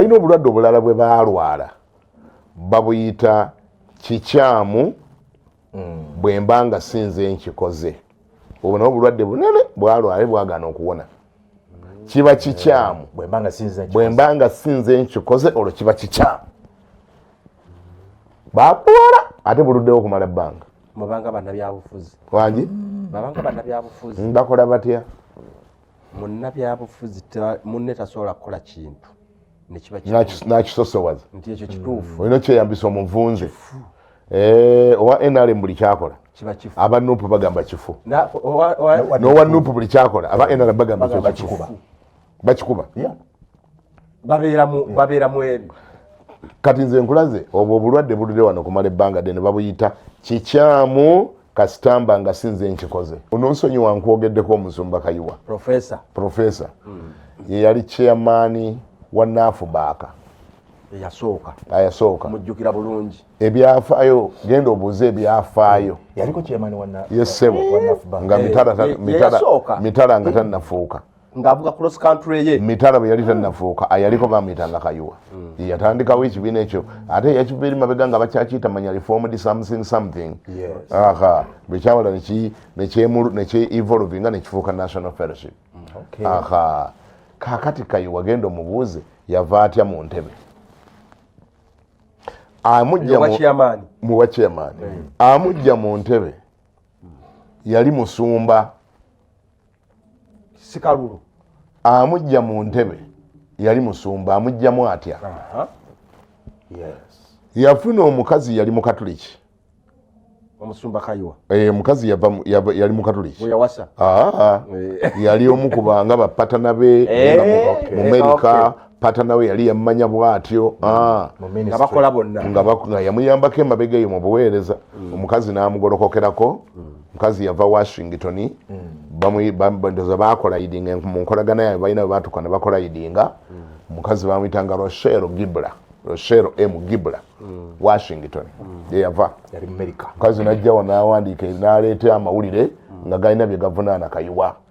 balina obulwadde obulala bwe baalwala babuyita kikyamu mm. bwe mba nga sinze nkikoze obwo nabo obulwadde bunene bwalwala bwagaana okuwona kiba kikyamu bwe mba nga sinze nkikoze olwo kiba kikyamu bakuwala ate buluddewo okumala ebbanga mubanga banabyabufuzi wangi babanga banabyabufuzi bakola batya munnabyabufuzi munne tasobola kukola kintu nakisosowaza nti ekyo kituufu mm. olina kyeyambisa omuvunze eh, owa nrm buli kyakola aba nup bagamba kifu nowa nup buli kyakola aba nrm bagamba bakikuba babeera mu ebyo kati nze nkulaze obwo obulwadde buludde wano kumala ebbanga dene babuyita kikyamu kasitamba nga sinze nkikoze ononsonyi wankwogeddeko omusumba kayiwa profesa profesa hmm. yeyali chairmani wa naafu baaka eyasooka ayasooka mujjukira bulungi ebyafaayo genda obuuze ebyafaayo yaliko chairmani wa naafu yesebo nga eh, mitala nga tanafuuka ng'avuga cross country ye mitala bwe yali tannafuuka ayaliko bamuyita nga kayuwa mm. yeyatandikawo ekibiina ekyo ate yakiva eri mabega nga bakyakiyita manya reformed something something aha bwe kyawala nekyevolvinga nekifuuka national fellowship mm, aha kakati kayuwa genda omubuuze yava atya mu ntebe amujja mu wakyamaani mm. amujja mu ntebe yali musumba sikalulu amujja mu ntebe yali musumba amujjamu atya yafuna omukazi yali mukatuliki omusumba kayiwa eh, omukazi yali mukatuliki eh. yali omu kubanga bapatana be eh, mu merika pata nawe yali yammanya bwatyo mm. ah. nga yamuyambako emabega eyo mu buweereza mm. omukazi n'amugolokokerako mm. omukazi yava washington ndoza bakola idinga mu nkolagana yaabwe balina bebatuka ne bakola idinga omukazi bamuyitanga roshero gibla roshero m gibla washington yeyava omukazi najjawa nawandiika naleeta amawulire nga galina bye gavunaana kayiwa mm.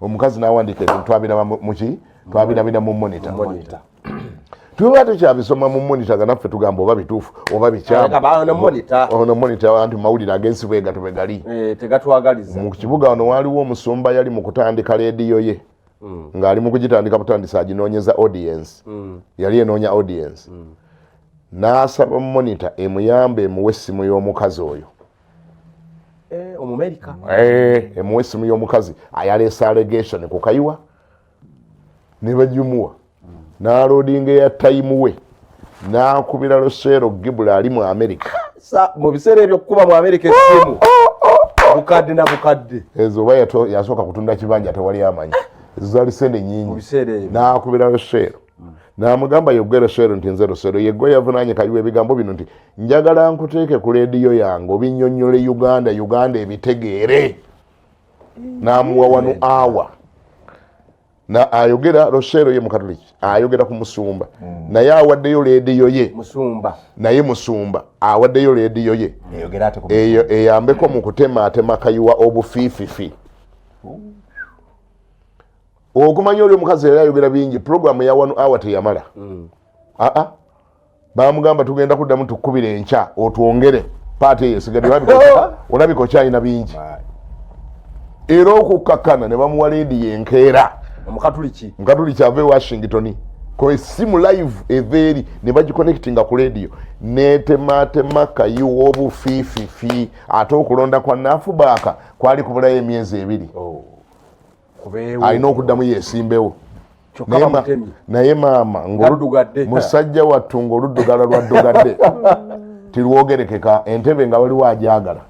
omukazi nawandiika ebintu twabiraba muki twabirabira mu monita tuba tukyabisoma mu monita nga naffe tugamba oba bituufu oba bikyamuono monita anti mawulire agensi bwegato bwe gali eh, mu kibuga wano waaliwo omusumba yali mu kutandika leediyo ye mm. ng'ali mu kugitandika butandisa aginoonyeza audience mm. yali enoonya audience mm. n'asaba monita emuyamba emuwa essimu y'omukazi oyo eh, omumerika eh, emuwa esimu y'omukazi ayaleesa allegation ku kayiwa ne bagimuwa n'aloodinga eya tayimu we n'akubira loseero gibula ali mu amerika mu biseera ebyo okukuba mu amerika esimu oh, oh, oh, bukadde na bukadde ezo oba yasooka kutunda kibanja tewali amanyi ezo zali sente nyingi n'akubira loseero hmm. namugamba yogwe loswero nti nze loswero yegwe yavunanye kaliwa ebigambo bino nti njagala nkuteeke ku lediyo yange obinyonyole uganda uganda ebitegeere hmm. namuwa wanu awa na ayogera loswero ye mukatoliki ayogera ku musumba hmm. naye awaddeyo lediyo ye naye musumba awaddeyo lediyo ye eyo eyambeko mu kutemaatema kayiwa obufiififi okumanya oli omukazi yali ayogera bingi pulogulaamu eya wanu awa teyamala aa mm. ah, ah. bamugamba tugenda kuddamu tukubira enkya otwongere paati eyo esigadde olabika okyalina bingi era okukkakkana ne bamuwa leedi yenkeera omukatuliki mukatuliki ava e washington ko esimu live eva eri ne bagikonectinga ku leediyo netematema kayiwa obufiififi ate okulonda kwa naafubaaka kwali kubulayo emyezi ebiri oh. alina okuddamu yesimbewo naye maama musajja wattu ngaoluddugala lwaddugadde tirwogerekeka entebe nga waliwo ajagala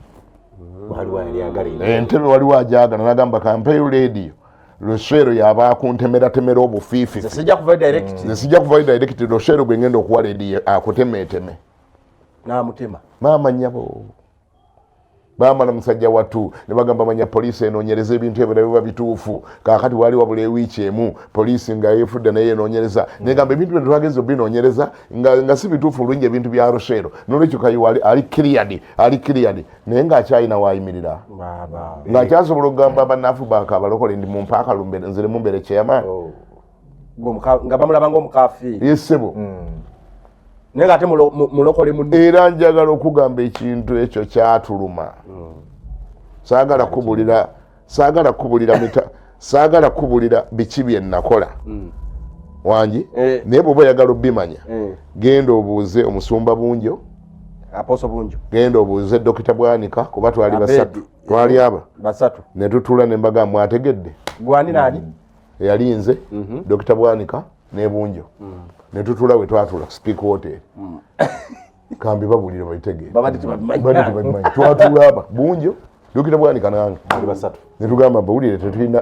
entebe waliwo ajagala nagamba kampeyo lediyo loswero yaba akuntemeratemera obufiifi sijja kuvayo direct loswero gwengenda okuwa lediyo akutemeeteme maama nyabo bamala musajja watu ne bagamba manya poliisi enoonyereza ebintu ebyo nabiba bituufu kakati waali wabula ewiiki emu poliisi nga efudde naye enoonyereza negamba ebintu bino twagezi obinoonyereza nga si bituufu olungi ebintu bya rusheero nolwekyo kayiwa ali kiriyadi ali kiriyadi naye ngaakyalina waayimirira ngaakyasobola okugamba abanafu bakabalokole ndi mumpaakalumbe nzire mumbere chairman oh. nga bamulaba ngaomukafiiri yesebo hmm. naye nga ate mulokole mu era njagala okugamba ekintu ekyo kyatuluma hmm. saagala kubulira saagala kubulira mita saagala kubulira biki bye nakola hmm. wangi eh. naye bwoba oyagala obimanya eh. genda obuuze omusumba bunjo aposo bunjo genda obuuze dokita bwanika kuba twali basatu twali aba basatu netutula nembaga mwategedde gwaninaani eyali nze mhm. dokita bwanika nebunjo mm. netutula wetwatula speak hotel mm. kambi babulire babitegeeratula aba bunjo dokita bwanika nange netugamba bawulire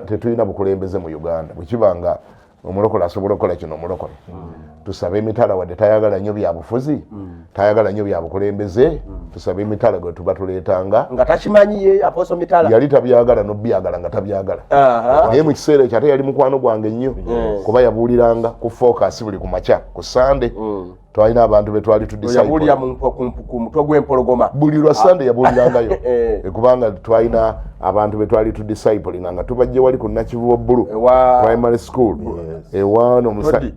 tetulina bukulembeze mu uganda bwekiba nga omulokola asobola okukola kino omulokole mm. tusabe emitala wadde tayagala nyo byabufuzi mm. tayagala nyo byabukulembeze mm. tusabe emitala gwe tuba tuletanga nga takimanyi ye aposo mitala yali tabyagala nobyagala nga tabyagala naye mu kiseera ekyo ate yali mukwano gwange nnyo mm. kuba yabuuliranga ku focus buli ku makya ku sande mm. twalina abantu betwali tudisabuulira ku mutwe gw'empologoma buli lwa sande yabuulirangayo eh. Eh, kubanga twalina abantu betwali tu disciplininga nga tubajje wali ku nakivubo bulu primary school ewaano eh,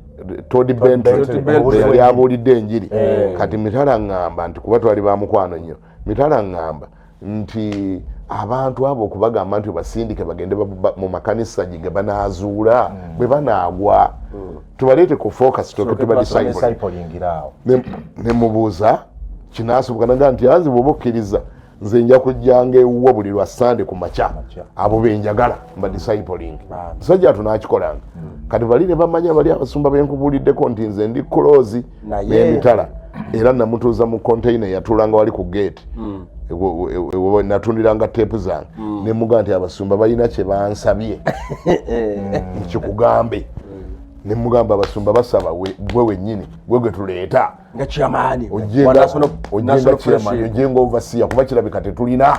Todi Bentley abuulidde enjiri eh. kati mitala ngamba nti kuba twali ba mukwano nnyo mitala ngamba nti abantu abo okubagamba nti obasindike bagende mu makanisa gye ge banaazuula hmm. bwe banaagwa hmm. tubaleete ku focus toke tubadisayipulingiraawo ne mubuuza kinaasoboka naga nti anzi bwoba okkiriza nze nja kujjanga ewuwo buli lwa sande ku makya abo benjagala mba discipling musajja ato nakikolanga hmm. kati bali ne bamanya bali abasumba benkubuuliddeko nti nze ndi kulozi n'emitala era namutuuza mu containa yatulanga wali ku gate hmm. natundiranga tepu zange hmm. nemuga nti abasumba balina kyebansabye eh. kikugambe nemugamba abasumba basaba gwe wenyini gwe gwe tuleeta nga kyamaani ojenga ovasiya kuba kirabika tetulina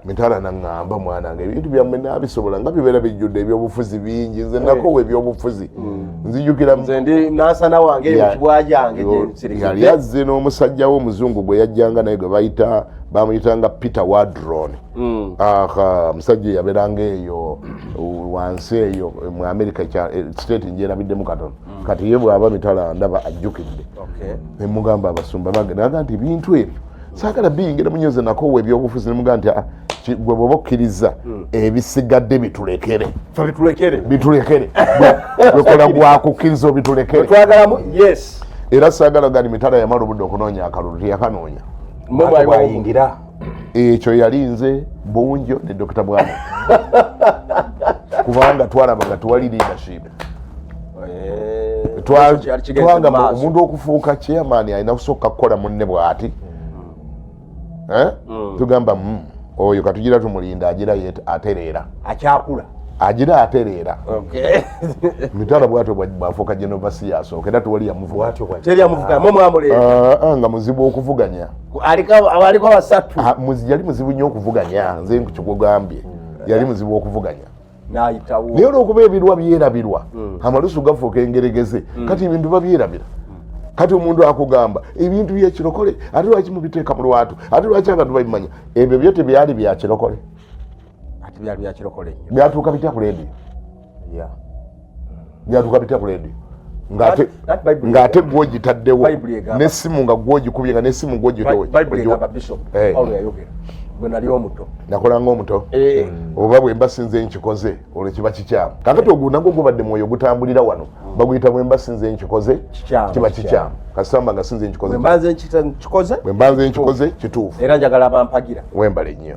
mitala naŋamba mwana nga ebintu byammwe nabisobola nga bibeera bijjudde ebyobufuzi bingi nze eh. nakowa ebyobufuzi hmm. nzijukirayali azze n'omusajja wo omuzungu gwe yajjanga naye gwe bayita bamuyitanga peter wadron hmm. aha musajja yaberanga eyo wansi eyo mu amerika eh, state njerabiddemu katono mm. kati ye bwaba mitala ndaba ajjukidde nemugamba abasumba bange naga nti ebintu ebyo saagala biyingira munyoze nakowa ebyobufuzi nemuga nti ah, gwe bwoba okkiriza mm. ebisigadde bitulekere bitulekere wekola gwakukkiriza obitulekere era saagala gani mitala yamala obudde okunoonya akalulu teyakanoonya mwayingira ekyo yali nze bunjo ne dokita bwana kubanga twalaba nga tewali leadership eh, twagamba omuntu okufuuka chairman alina kusooka kukola munne bwati hmm. eh? hmm. tugamba hmm, oyo katugira tumulinda agira atereera akyakula agira atereera mitala bwatyo bwafuuka genovasi asooka era tewali yamuvugaanga muzibu okuvuganya yali muzibu nyo okuvuganya nze nkukigugambye yali muzibu okuvuganya nayitawo naye olwokuba ebirwa byerabirwa hmm. amalusu gafuuka engeregeze hmm. kati ebintu babyerabira kati omuntu akugamba ebintu byekirokole ate lwaki mubiteeka mu lwatu ate lwaki abantu babimanya ebyo byo tebyali byakirokole byatuuka bitya ku leediyo byatuka bitya kuledi ng'ate gwogitaddewo n'essimu nga gwogikubye nga n'essimu gwogitowenakolanga omuto eh. hmm. oba bwe mba sinze nkikoze olwo kiba kikyamu kakati ogwo nagwo gubadde mwoyo ogutambulira wano hmm. baguyita bwe mba sinze nkikoze kiba kikyamu kasamba nga sinze nkikoze bwe mba nze nkikoze kituufu era njagala bampagira wembale nnyo